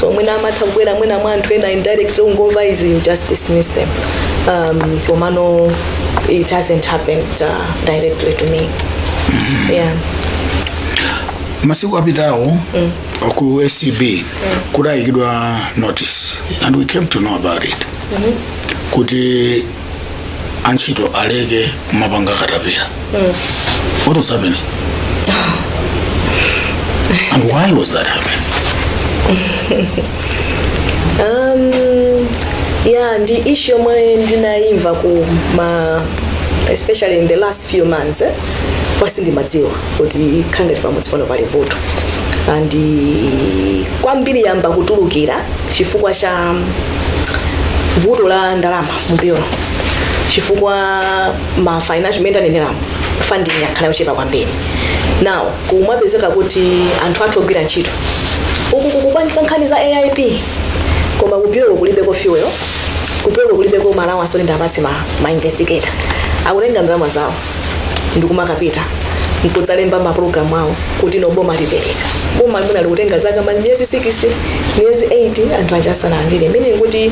so mwina amatha kubwera mwina mwa anthu ena indirect ukangomva izi you just dismiss them um, komano it hasn't happened uh, directly to me yeah masiku apitawo ku acb kudayikidwa notice and we came to know about it kuti antchito aleke kumapanga katapira what was happening and why was that happening um, yeah ndi issue yomwe ndinayimva ku- mm especially in the last few months eh? koma sindimadziwa kuti kukhala ngati pamudzi pano pali vuto and kwambiri yayamba kutulukira chifukwa cha vuto la ndalama mu bureau chifukwa ma financial imene tanenera mu funding yakhala yochepa kwambiri now kumapezeka kuti anthu athu ogwira ntchito uku kukupangidwa nkhani za aip koma ku bureau kulibeko fuel kufika kulibeko ma allowance oti tiwapatse ma, ma investigator akutenga ndalama zawo ndikumakapita nkudzalemba ma claim awo kuti no boma lipereka boma limene likutenga zaka ma miyezi 6 miyezi 8 anthu aja asanalandire imene kuti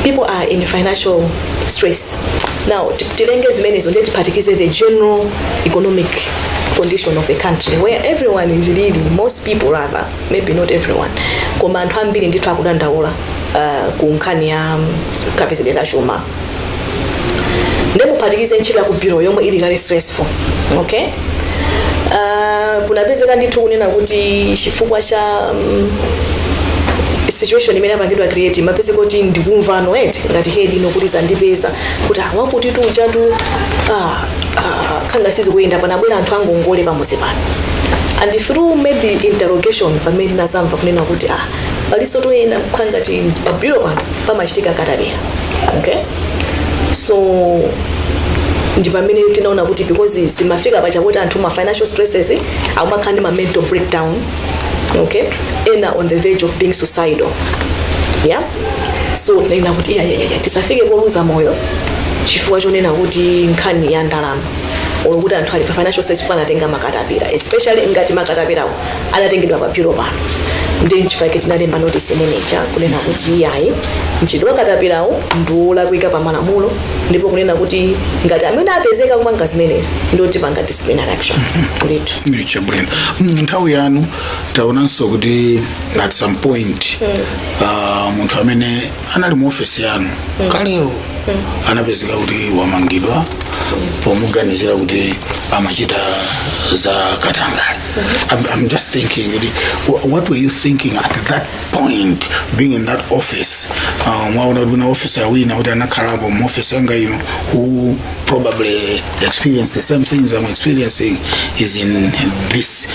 people are in financial stress now ti- titenge zimenezo ndiye tiphatikize the general economic condition of the country where everyone is really most people rather maybe not everyone koma anthu ambiri ndithu akudandaula uh, ku nkhani ya mm, kapezedwe ka chuma ndikuphatikize ntchito ya ku bureau yomwe ili kale stressful okay uh, kunapezeka ndithu kunena kuti chifukwa cha mm, situation imene yapangidwa create mapezeka kuti ndikumvano eti ngati head ino kuti zandipeza kuti awakutitu ujatu ah, ah, kukhala ngati sizikuyenda panabwera anthu angongole pamudzi pano and through maybe interrogation pamene tinazamva kunena kuti ah paliso toyenda kukhala ngati pa bureau pano pamachitika katapira okay so ndi pamene tinaona kuti because zimafika pachakuti anthu ma financial stresses eh, akumakhala ndi ma mental breakdown okay ena on the verge of being suicidal yeah so ena kuti iyayayaya tisafike poluza moyo chifukwa chonena kuti nkhani ya ndalama olo kuti anthu ali pa financial side chifukwa anatenga makatapira especially ngati makatapirawo anatengedwa pa payroll pano ndi nchifukwa chake tinalemba notice imeneja kunena kuti iyayi mchitidwe wa katapirawo ndi wolakwika pa malamulo ndipo kunena kuti ngati amene apezeka kupanga zimenezi ndiye tipanga disciplinary action ndithu chabwino nthawi yanu taonanso kuti at some point ah, munthu amene anali mu ofesi yanu kalero anapezeka kuti wamangidwa pomuganizira kuti amachita za katangale I'm, I'm just thinking kuti wh- what were you thinking at that point being in that office Ah, mwaona kuti wina officer wina kuti anakhalapo mu office yanga ino who probably experienced the same things I'm experiencing is in this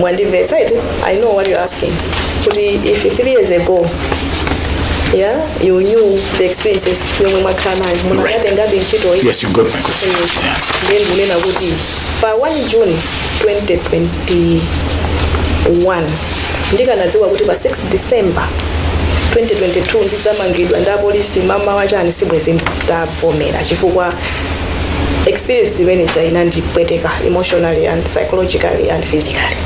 mwandimvetsa eti i know what you're asking kuti if three years ago yeah you knew the experiences yomwe mwakhala nayo mukanatengabe ntchito iyi Yes, you got my question. Yes. ndiye ndikunena kuti pa 1 june 2021 ndikanadziwa kuti pa 6 december 2022 ndidzamangidwa ndi apolisi mmawa chani sibwezi ndavomera chifukwa experience imene ija inandipweteka emotionally and psychologically and physically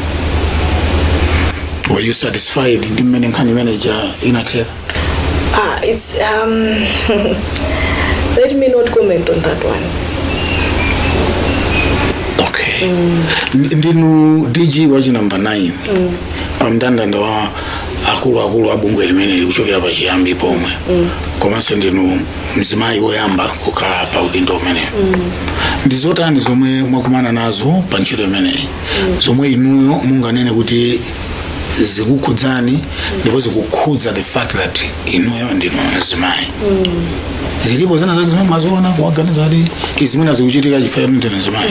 were you satisfied ndi mmene nkhani imene ija inathera ah, it's, um, let me not comment on that one okay Ndi- ndinu dg wa chinambala 9 pa mndandanda wa akuluakulu a bungwe limene likuchokera pa chiyambi pomwe komanso ndinu mzimayi woyamba kukhala pa udindo umenewu ndi zotani zomwe mwakumana nazo pa ntchito imeneyi zomwe inuyo munganene kuti zikukhudzani ndipo zikukhudza the fact that inuyo ndinu mzimayi zilipo zina zake zomwe mwaziona kuwaganiza kuti izi zimene zikuchitika chifukwa choti ndinu mzimayi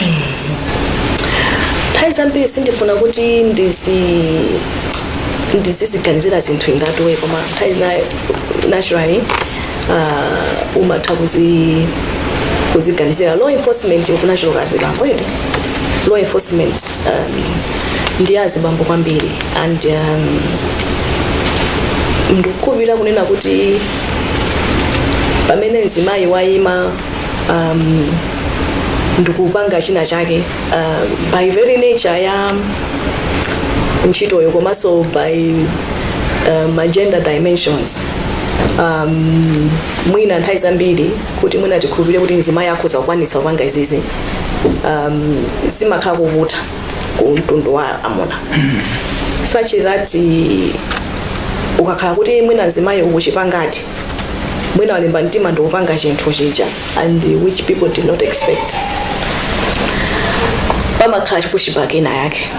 nthawi zambiri sindifuna kuti ndizi ndiziganizira zinthu ngati zimenezo koma nthawi zina naturally uh, umatha kuzi kuziganizira law enforcement kumachuluka azibambo eti law enforcement um, ndi azibambo kwambiri and um, ndikukhulupirira kunena kuti pamene mzimayi wayima um, ndikupanga china chake uh, by very nature ya ntchitoyo komanso by uh, ma gender dimensions um, mwina nthawi zambiri kuti mwina tikhulupirire kuti mzimayi akhoza kukwanitsa kupanga izizi um, zimakhala zovuta ku mtundu wa amuna such that eh, ukakhala kuti mwina mzimayi ukuchipangadi mwina walimba mtima ndikupanga chinthu chija and which people did not expect pamakhala ti pushback ina yake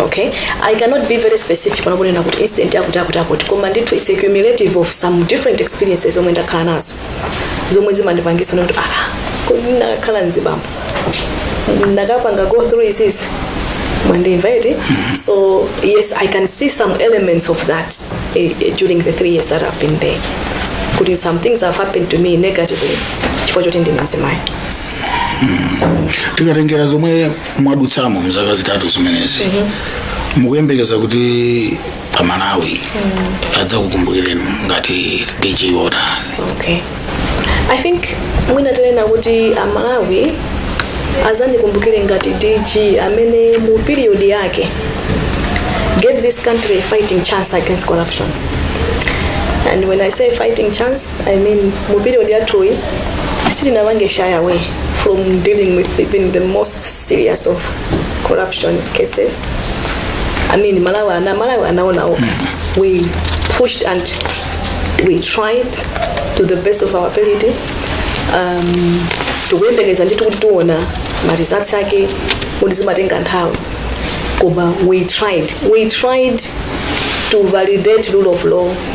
okay i cannot be very specific pano kunena kuti incident yakuti yakuti yakuti koma ndithu its a cumulative of some different experiences zomwe ndakhala nazo zomwe zimandipangitsa kuti ah kodi ndikanakhala mzibambo ndikanapanga go through izizi mwandimva eti so yes i can see some elements of that eh, eh, during the three years that i've been there kuti some things have happened to me negatively chifukwa choti ndine mzimayi tikatengera zomwe mwadutsamo mzaka zitatu zimenezi mukuyembekeza kuti amalawi adzakukumbukireni ngati dg wotani okay i think mwina tinena kuti amalawi adzandikumbukire ngati dg amene mu period yake gave this country a fighting chance against corruption and when i say fighting chance i mean mu period yathuyi sitinapange shy away from dealing with even the most serious of corruption cases i mean amalawi ana amalawi anaona okha we pushed and we tried to the best of our ability um, tikuyembekeza ndithu kuti tiona maresults ake kuti zimatenga nthawi koma we tried we tried to validate rule of law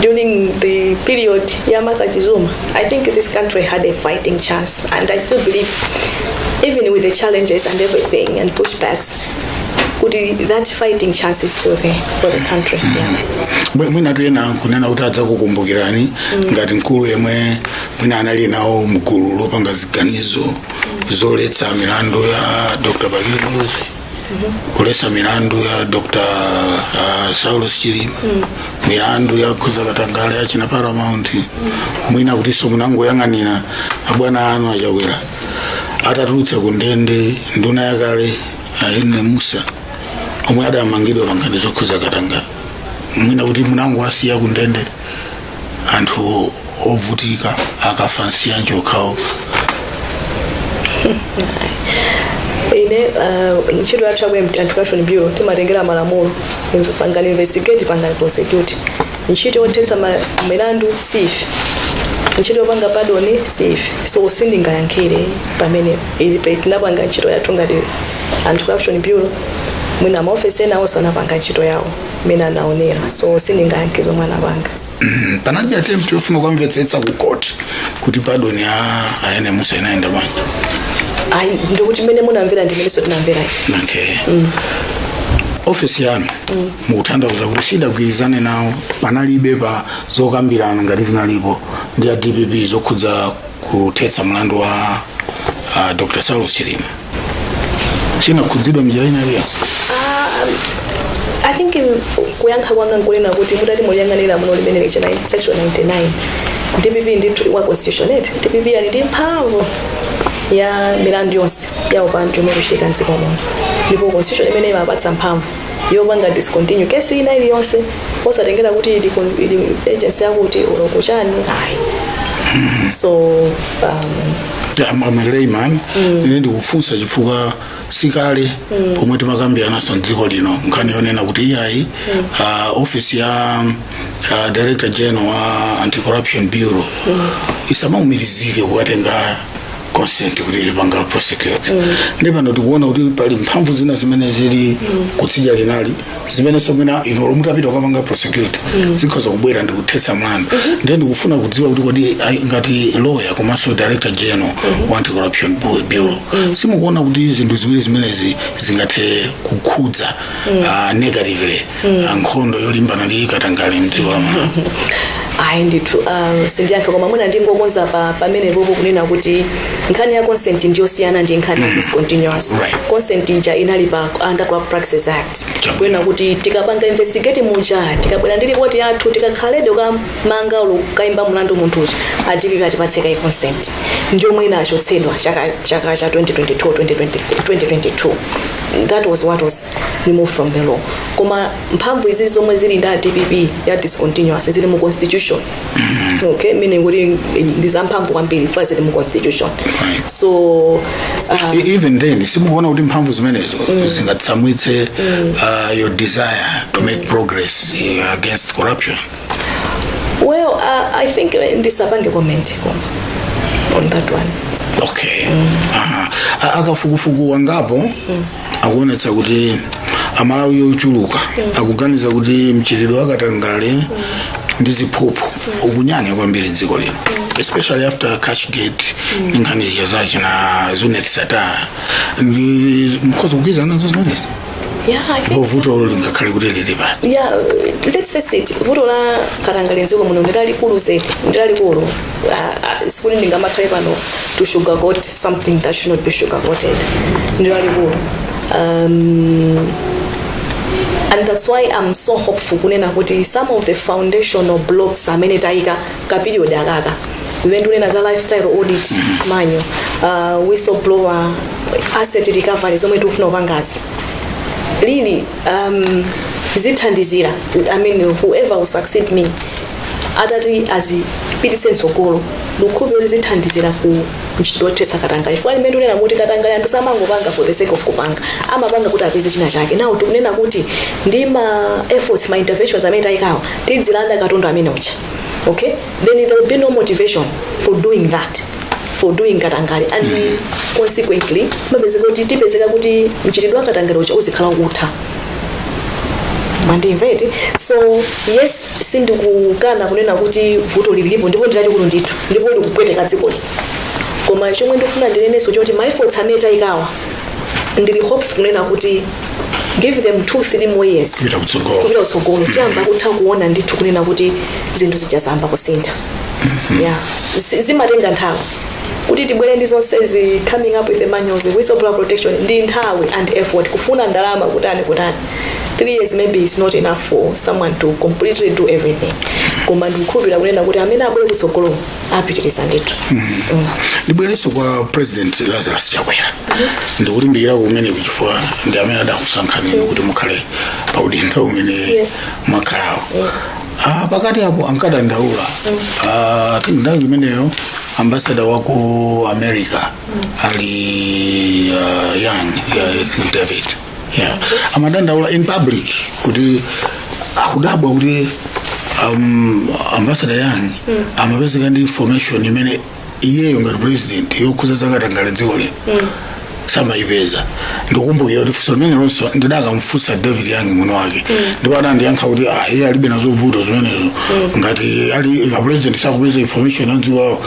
during the period ya Martha Chizuma, I think this country had a fighting chance, and I still believe, even with the challenges and everything and pushbacks, kuti that fighting chance is still there for the country. Yeah. Mwe- mwinatu ena kunena kuti adzakukumbukirani ngati mkulu yemwe mwina anali nawo mgulu lopanga ziganizo zothetsa milandu ya dr bakili muluzi kuthetsa milandu ya dr uh, saulos chilima milandu yokhudza katangale ya achina paramount mwina kutinso munangoyang'anira abwana anu achakwera atatulutsa ku ndende nduna yakale uladi mussa omwe adamangidwa pankhani zokhudza katangale mwina kuti munangowasiya ku ndende anthu ovutika akafa nsiyanji okhawo ine uh, ntchito yathu yaku anti-corruption bureau timatengera malamulo pangani investigate pangani prosecute ntchito yothetsa ma- milandu si ife ntchito yopanga pardon si ife so sindingayankhire pamenepo ife pe- tinapanga ntchito yathu ngati anti-corruption bureau mwina maofesi ena onse anapanga ntchito yawo mmene anaunenera so sindingayankhe zomwe anapanga panalibe attempt yofuna kukamvetsetsa ku court kuti pardon ya a Yenemusa inayenda bwanji ayi ndikuti mmene munamvera ndi mmenenso tinamvera okay ofesi yanu mukutanthauza kuti sidagwirizane nawo panalibe pa zokambirana ngati zinalipo ndi a dpp zokhudza kuthetsa mlandu wa uh, dr saulos chilima chinakhudzidwa mnjira ina iliyonse I think in kuyankha kwanga nkunena kuti mutati muliyang'anire muno limene licha na- section 99 dpp ndi wa constitution eti dpp ali ndi mphamvu ya milandu yonse ya upandu imene ikuchitika mdziko muno ndipo constitution imeneyi imapatsa mphamvu yopanga discontinue kesi ina iliyonse osatengela kuti ili kon- ili agency yakuti uloko chani ayi so um, I'm, I'm a layman ine ndikufunsa chifukwa sikale pomwe timakambiranaso mdziko lino nkhani yonena kuti iyayi uh, office ya uh, director general wa anti corruption bureau isamaumirizike kukatenga consent kuti ipange prosecute ndiye pano tikuona kuti pali mphamvu zina zimene zili kutsidya linali zimenenso mwina inu olo mutapita kukapanga prosecute zikhoza kubwera ndi kuthetsa mlandu ndiye ndikufuna kudziwa kuti kodi ai- ngati lawyer komanso director general wa anti corruption Bu- bureau simukuona kuti zinthu ziwiri zimenezi zingathe kukhudza ah, negatively nkhondo yolimbana ndi katangale mdziko la malawi ayi ndithu um, sindiyankhe koma mwina ndingokonzapo pamenepopo kunena kuti nkhani ya consent ndiyosiyana ndi nkhani ya discontinuance Right. consent ija inali pa under Corrupt practices act Chabwino. kunena kuti tikapanga investigate muja tikabwera ndi ripoti yathu tisakakhaledi kukamanga olo kukayimba mlandu munthu uja a dpp atipatse kaye consent ndi yomwe inachotsedwa chaka chaka cha 2022 2023 2022 that was what was removed from the law koma mphamvu izi zomwe zili ndi a dpp za discontinuance zili mu constitution okay meaning kuti ndi zamphamvu kwambiri chifukwa zili mu constitution so uh, E- even then simukuona kuti mphamvu zimenezo zingatsamwitse uh, your desire to make progress uh, against corruption well uh, i think uh, ndisapange comment koma on that one okay Aha. A- akafukufuku angapo akuonetsa kuti amalawi ochuluka akuganiza kuti mchitidwe wa katangale ndi ziphuphu ukunyanya kwambiri mdziko lino especially after cashgate ndi nkhani zija za achina zuneth sattar ndi nkhani zogwirizana nazo zimenezi yeah, I think pano vuto lingakhale kuti lili pati yeah, let's face it vuto la katangale mdziko muno ndi lalikulu zedi ndi lalikulu uh, sikuti ndingamakhale pano to sugarcoat something that should not be sugarcoated ndilo alikulu um, and that's why i'm so hopeful kunena kuti some of the foundational blocks amene tayika ka period akaka zimene tikunena za lifestyle audit money uh, whistleblower asset recovery zomwe tikufuna kupangazi really um, zithandizira i mean whoever will succeed me atati azipititse mtsogolo ndikukhulupira kuti zithandizira ku ntchito yothetsa katangale chifukwa m'mene tikunena kuti katangale anthu samangopanga for the sake of kupanga amapanga kuti apeze china chake ndiye tikunena kuti ndi ma efforts ma interventions amene tayikawo tidzilanda katundu amene uja okay then there will be no motivation for doing that for doing katangale and consequently mapezeka kuti tipezeka kuti mchitidwe wa katangale uja uzikhala ukutha mwandimvetsa so yes sindikukana kunena kuti vuto lilipo ndipo ndilalikulu ndithu ndipo likupweteka dzikoli koma chomwe ndikufuna ndinenenso nchoti ma efforts amene tayikawa ndili hopeful kunena kuti give them two three more years Kupita kutsogolo. kupita kutsogolo tiyamba kutha kuona ndithu kunena kuti zinthu zija zayamba kusintha yeah Zi- zimatenga nthawi kuti tibwere ndi zonsezi coming up with the manuals whistleblower protection ndi nthawi and effort kufuna ndalama kutani kutani three years maybe is not enough for someone to completely do everything koma ndikukhulupirira kunena kuti amene abwere kutsogolo apitiriza ndithu ndibwerenso kwa president lazarus chakwera ndikulimbikira kumene chifukwa ndi amene adakusankhaniyo kuti mukhale pa udindo umene Yes mwakhalawo Ah, pakati apo ankadandaula Ah, I think nthawi imeneyo ambasada wa ku america ali ah, young yeah, I think david yeah. amadandaula in public kuti akudabwa kuti um, ambasada young amapezeka ndi information imene iyeyo ngati president yokhudza zakatangale dziko lino samayipeza ndikumbukira kuti funso limenelonso ndidakamfunsa david young mwini wake ndipo adandiyankha kuti ah, iye alibe nazovuta zimenezo ngati ali a president sakupeza information ya dziko lawo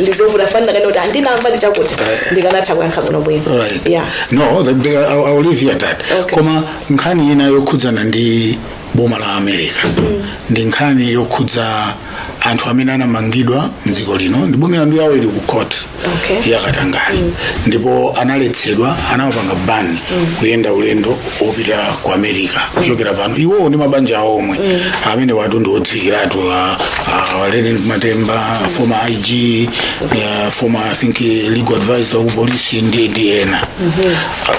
ndizovuta fananira kaya kuti sindinamve ndi chakuti ndikanatha kuyankha bwino bwino Right. yeah no the, the, I, I will leave you at that Okay. koma nkhani ina yokhudzana ndi boma la america ndi nkhani yokhudza anthu amene anamangidwa mdziko lino ndi boma milandu yawo ili ku court Okay. ya katangale ndipo analetsedwa anawapanga ban kuyenda ulendo wopita ku america kuchokera pano iwowo ndi mabanja awo omwe amene awatu ndi odziwikiratu a- a- a reyneck matemba former ig eh, former i think eh, legal advisor wa kupolisi ndi ndi ena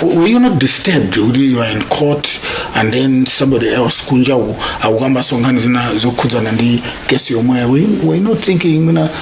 Uh, were you not disturbed kuti you are in court and then somebody else kunjaku akukambaso nkhani zina zokhudzana ndi case yomweyo were you not thinking mwina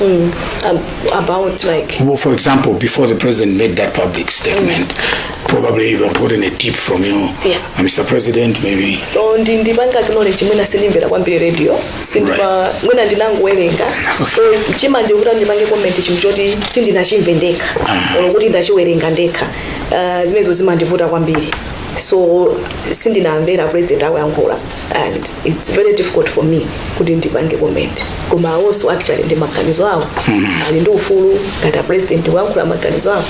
um, about like Well, for example, before the president made that public statement, probably you have gotten a tip from you, Yeah. uh, Mr. President, maybe. so ndi ndipanga acknowledge mwina sindimvera kwambiri radio sindipa mwina ndinangowerenga so chimandivuta kuti ndipange comment chinthu choti sindinachimve ndekha or kuti ndachiwerenga ndekha Ah, zimenezo zimandivuta kwambiri so sindinamvere president akuyankhula and its very difficult for me kuti ndipange comment koma awonso actually ndi maganizo awo ali ndi ufulu ngati a president kuyankhula maganizo awo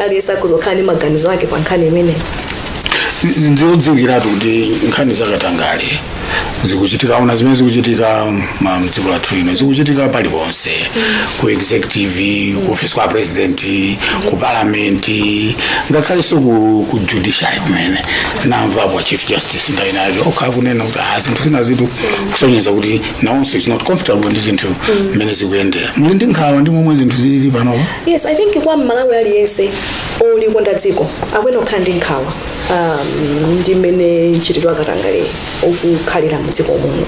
aliyense akuyenera kukhala ndi maganizo ake pa nkhani imeneyi ndiodziwikiratu kuti nkhani za katangale zikuchitika ona zimene zikuchitika ma- mdziko lathu lino zikuchitika paliponse ku executive ku office kwa president ku parliament ngakhalenso ku, ku judiciary kumene ndamvapo a chief justice tisintha nawo okha akunena kuti ah zinthu zina zitu kusonyeza kuti nawonso is not comfortable ndi zinthu mmene zikuyendera muli ndi nkhawa ndi momwe zinthu zilili panopa yes i think kwa mmalawi aliyense olikonda dziko akuyenera kukhala ndi nkhawa um, ndi mmene mchitidwe wa katangale ukukhalira mdziko muno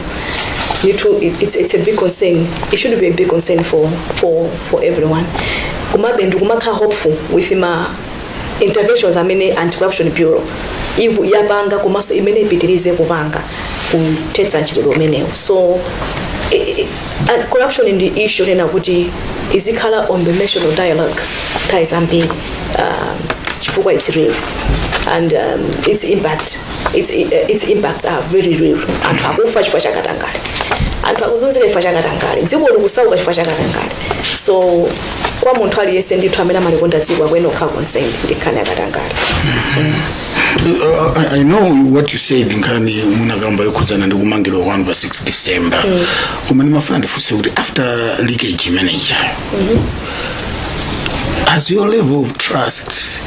ndithu it- it's, it's a big concern it should be a big concern for, for, for everyone komabe ndikumakhala hopeful with ma interventions amene anti-corruption bureau iku- yapanga komanso imene ipitirize kupanga kuthetsa mchitidwe umenewu so eh, eh, and corruption ndi issue yofunika kuti izikhala on the national dialogue nthawi zambiri um, chifukwa it's real and um, its impact its, uh, its impacts are very real anthu akufa chifukwa cha katangale anthu akuzunzika chifukwa cha katangale dziko likusauka chifukwa cha katangale so kwa munthu aliyense ndithu amene amalikonda dziko akuyenera kukhala concerned ndi nkhani ya katangale Uh, I, I know what you said nkhani munakamba yokhudzana ndi kumangidwa kwanu pa 6 december koma ndimafuna ndifunse kuti after leakage mmeneja has your level of trust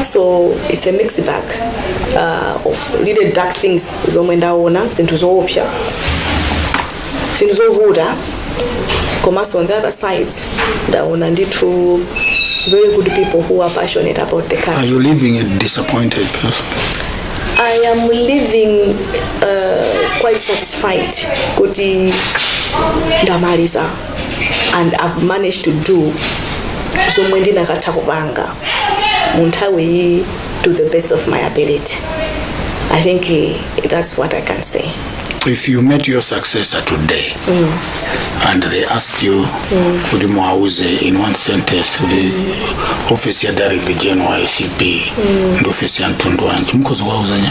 so it's a mixed bag uh, of really dark things zomwe ndaona zinthu zoopsa zinthu zovuta komanso on the other side ndaona ndithu very good people who are passionate about the country Are you leaving a disappointed person? I am leaving uh, quite satisfied kuti ndamaliza and i've managed to do zomwe ndinakatha kupanga mu nthawi iyi to the best of my ability i think eh, that's what i can say if you met your successor today and they ask you kuti muwauze in one sentence kuti office ya director general wa acb ndi office ya mtundu wanji mukhoza kuwauza chani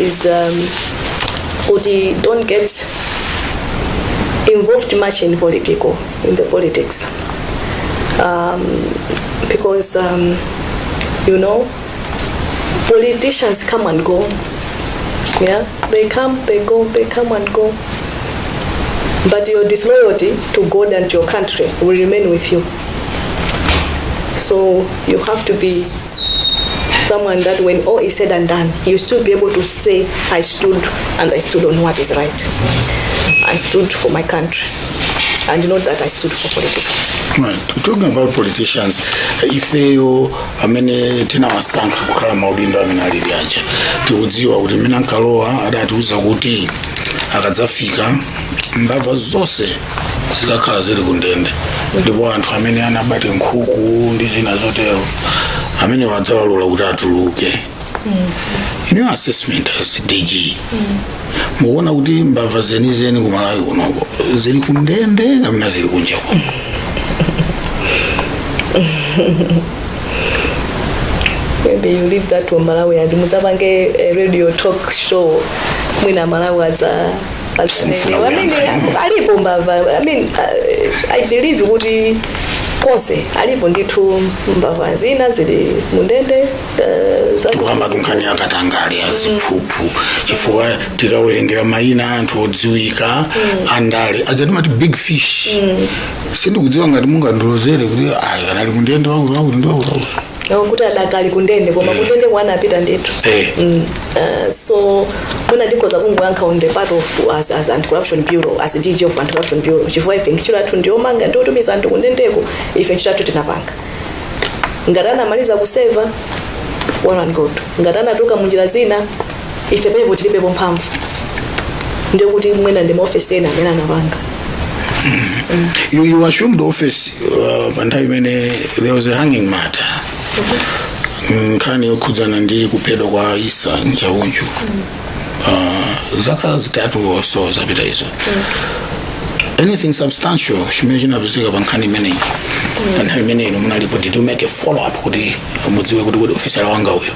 is um, kuti don't get involved much in political in the politics um, because um, you know politicians come and go yeah they come they go they come and go but your disloyalty to god and your country will remain with you So you have to be someone that when all is said and done, you still be able to say, I stood and I stood on what is right. I stood for my country. And not that I stood for politicians. Right. Talking about politicians, ifeyo amene tinawasankha kukhala m'maudindo amene ali aja tikudziwa kuti mmene ankalowa adatiuza kuti akadzafika mbava zonse zikakhala zili kundende ndipo anthu amene anaba nkhuku ndi zina zotero amenewa adzawalola kuti atuluke your assessment as dg mukuona kuti mbava zenizeni ku malawi kunoko zili kundende kapena zili kunja kuno maybe you leave that to malawians mudzapange a radio talk show mwina amalawi adza Simfuna I mean, kuyankha. alipo mbava i mean uh, i believe kuti konse zilipo ndithu mbava zina zili mundende uh, zazi- kukamba za nkhani ya katangale ndi ziphuphu chifukwa tikawerengera mayina a anthu odziwika andale aja timati big fish sindikudziwa ngati mungandilozere kuti ayi akadali mundende wakuti wakuti ndi wakuti wakuti Nawo kuti adakali kundende koma kundendeko anapita ndithu Eh. Mm, uh, so mwina ndikhoza kungoyankha on the part of as, as anti-corruption bureau as dg of anti-corruption bureau chifukwa ife ntchito yathu ndiyomanga ndiyotumiza anthu kundendeko ife ntchito yathu tinapanga ngati anamaliza kuseva well and good ngati anatuluka munjira zina ife apo tilibepo mphamvu ndekuti mwina ndi maofesi ena amene anapanga You, you assumed the office uh, pa nthawi imene there was a hanging matter nkhani yokhudzana ndi kuphedwa kwa isa njaunju uh, zaka zitatu or so zapita izo anything substantial chimene chinapezeka pa nkhani imeneyi pa nthawi imene inu munalipo did you make a follow up kuti mudziwe kuti kuti ofisala wanga uja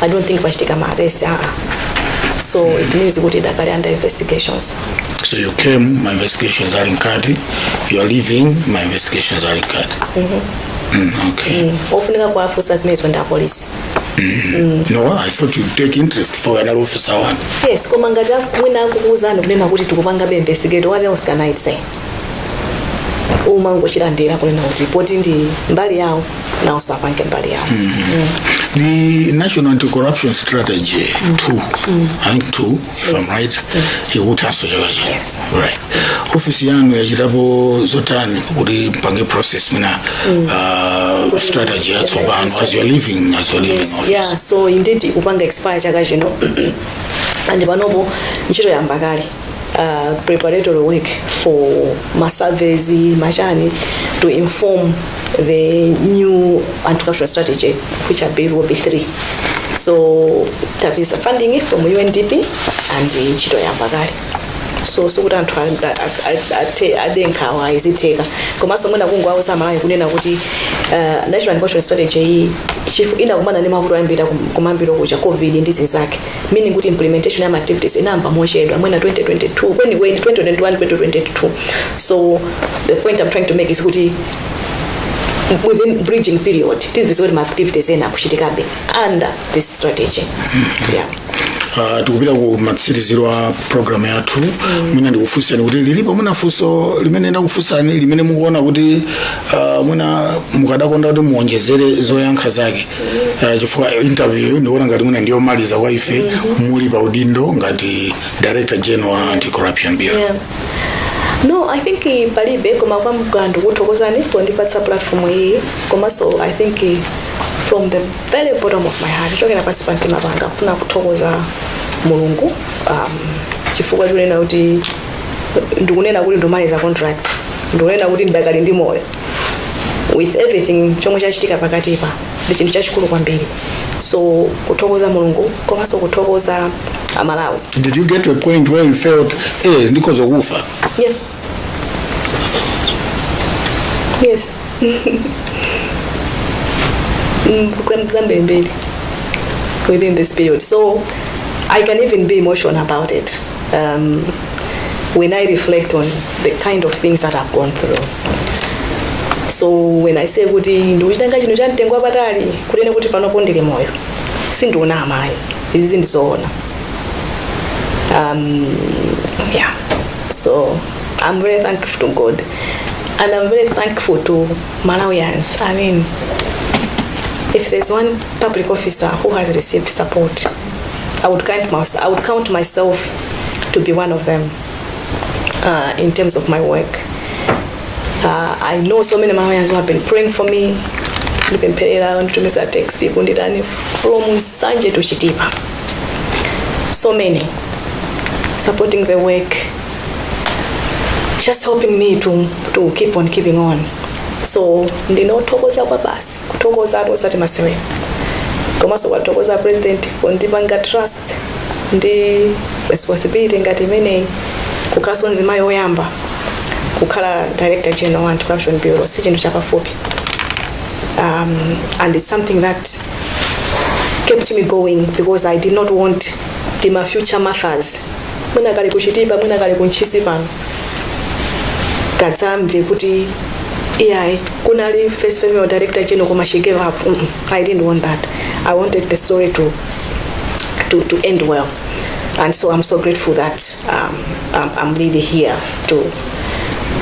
i don't think pachitika ma arrest aa so it means kuti dakali under investigations So you came, my investigations are in Kati. You are leaving, my investigations are in Kati. Mm, okay. ofunika kuwafunsa zimene zonda apolisi No, I thought you'd take interest for another officer one. yes koma ngati mwina akukuwuzani kunena kuti tikupangabe investigate what else can i say umangochilandira kunena kuti poti ndi mbali yawo nawonso apange mbali yawo The National Anti-Corruption Strategy 2, I think 2, if I'm right, ikuthanso chaka chino. Yes. Right. Ofisi yanu yachitapo zotani kuti mpange process mwina uh, strategy yatsopano as you're leaving, as you're leaving office. yeah so indeed ikupanga expire chaka chino and panopo ntchito yayamba kale uh, preparatory work for masurveys machani to inform the new anti-corruption strategy which i believe will be three so tapeza funding from undp and uh, ntchito yayamba kale so sikuti anthu a- a- a- ate- ade nkhawa zitheka komanso mwina kungowauza amalawi kunena kuti uh, national anti-corruption strategy iyi chifu inakumana ndi mavuto ambiri kumayambiriro kuja covid ndi zinzake meaning kuti implementation ya ma activities inayamba mochedwa mwina 2022 kwenikweni 2021 2022 so the point i'm trying to make is kuti within bridging period tizipeza kuti ma activities ena akuchitikabe under this strategy yeah. Uh, tikupita ku matsiriziro a programu yathu mwina ndikufunseni kuti lilipo mwina funso limene ndakufunsani limene mukuona kuti uh, mwina mukadakonda kuti muonjezere zoyankha zake Eh, chifukwa interview ndikuona ngati mwina ndiyomaliza kwa ife muli pa udindo ngati director general wa anti corruption bureau Yeah. no i think eh, palibe koma kwanga ndikuthokozani pondipatsa platform iyi komanso i think eh, from the very bottom of my heart kuchokera pansi pa mtima panga kufuna kuthokoza mulungu um, chifukwa chonena kuti ndikunena kuti ndamaliza contract ndikunena kuti ndidakali ndi moyo with everything chomwe chachitika pakatipa ndi chinthu chachikulu kwambiri so kuthokoza mulungu komanso kuthokoza amalawi Did you get to a point where you felt, eh, ndikoza kufa? yeah. yes Mm, kambirimbiri within this period so i can even be emotional about it um, when I reflect on the kind of things that I've gone through. So when I say kuti ndikuchitenga chinthu cha mtengo wapatali kuti ine kuti panopo ndili moyo sindikunama ayi izi ndi zoona. Um, yeah. So I'm very thankful to God and I'm very thankful to Malawians. I mean, if there's one public officer who has received support I would count myself, I would count myself to be one of them uh, in terms of my work. Uh, I know so many Malawians who have been praying for me, ndipempherera nditumiza text kunditani from nsanje to chitipa so many supporting the work just helping me to, to keep on keeping on so ndinothokoza kwabasi kuthokozatu osati masewera komanso kuwathokoza a president kundipanga trust ndi responsibility ngati imeneyi kukhalanso mzimayi woyamba kukhala director general wa anti-corruption bureau si chinthu chapafupi um, and it's something that kept me going because i did not want ndimafuna kuti future Marthas mwina kali ku Chitipa mwina kali ku Ntchisi pano kadzamve kuti iyayi kunali first female director chino koma she gave up mm -mm, i didn't want that i wanted the story to to, to end well and so i'm so grateful that um, I'm, i'm really here to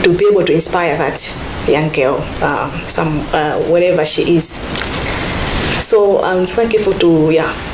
to be able to inspire that young girl um, some uh, wherever she is so i'm thankful to yeah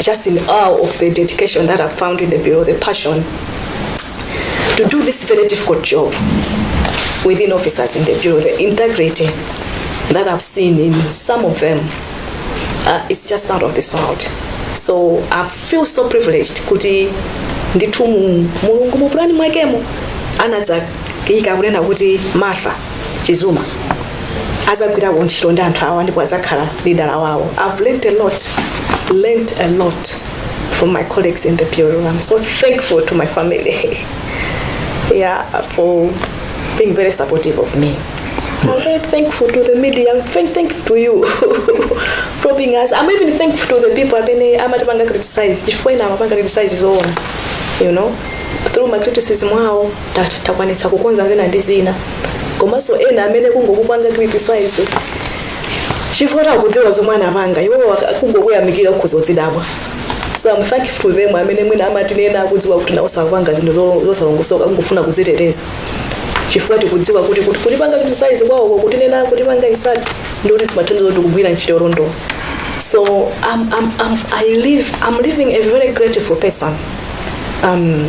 just in awe of the dedication that I found in the Bureau, the passion to do this very difficult job within officers in the Bureau, the integrity that I've seen in some of them uh, is just out of this world. So I feel so privileged kuti ndithu mu- mulungu mupulani mwakemo anadza ika kunena kuti martha chizuma azagwira kuntchito ndi anthu awa ndipo azakhala lidala wawo i've learnt a lot learnt a lot from my colleagues in the bureau i'm so thankful to my family yeah for being very supportive of me I'm very thankful to the media. I'm very thankful to you for being us. I'm even thankful to the people amene amatipanga criticize. Chifukwa ina amapanga criticize zoona. You know, through my criticism wao Tat- takwanitsa kukonza zina ndi zina komanso ena amene kungokupanga criticize chifukwa takudziwa zomwe anapanga iwo kungokuyamikira ukhoza uzidabwa so am thankful to them amene mwina amatinena akudziwa kuti iwowo akupanga zinthu zo- zosalongosoka kungofuna kudziteteza chifukwa tikudziwa kuti kuti kutipanga criticize kwawoko kutinena kutipanga insult ndi kuti zimathandiza kuti kugwira ntchito yolondola so I'm, I'm, I'm, I leave, I'm leaving a very grateful person um,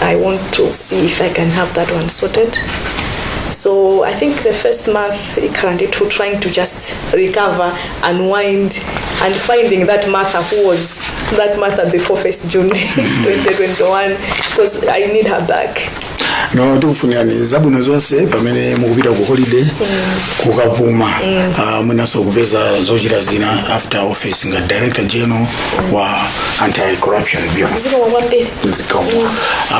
I want to see if I can have that one sorted. So I think the first month ikhala ndithu trying to just recover, unwind and finding that Martha who was that Martha before 1st June 2021 because I need her back. no tikufunirani zabwino zonse pamene mukupita ku holiday kukapuma Ah, mwinanso kupeza zochita zina after office ngati director general wa anti corruption bureau Zikomo kwambiri. zikomo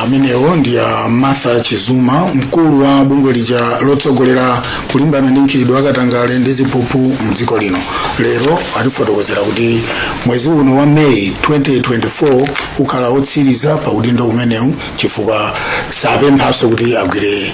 amenewo ndi a martha chizuma mkulu wa bungwe lija lotsogolera kulimbana ndi mchitidwe wakatangale ndi ziphuphu mdziko lino lero atifotokozera kuti mwezi uno wa meyi 2024 ukhala wotsiriza pa udindo umenewu chifukwa sapemphanso kuti agwire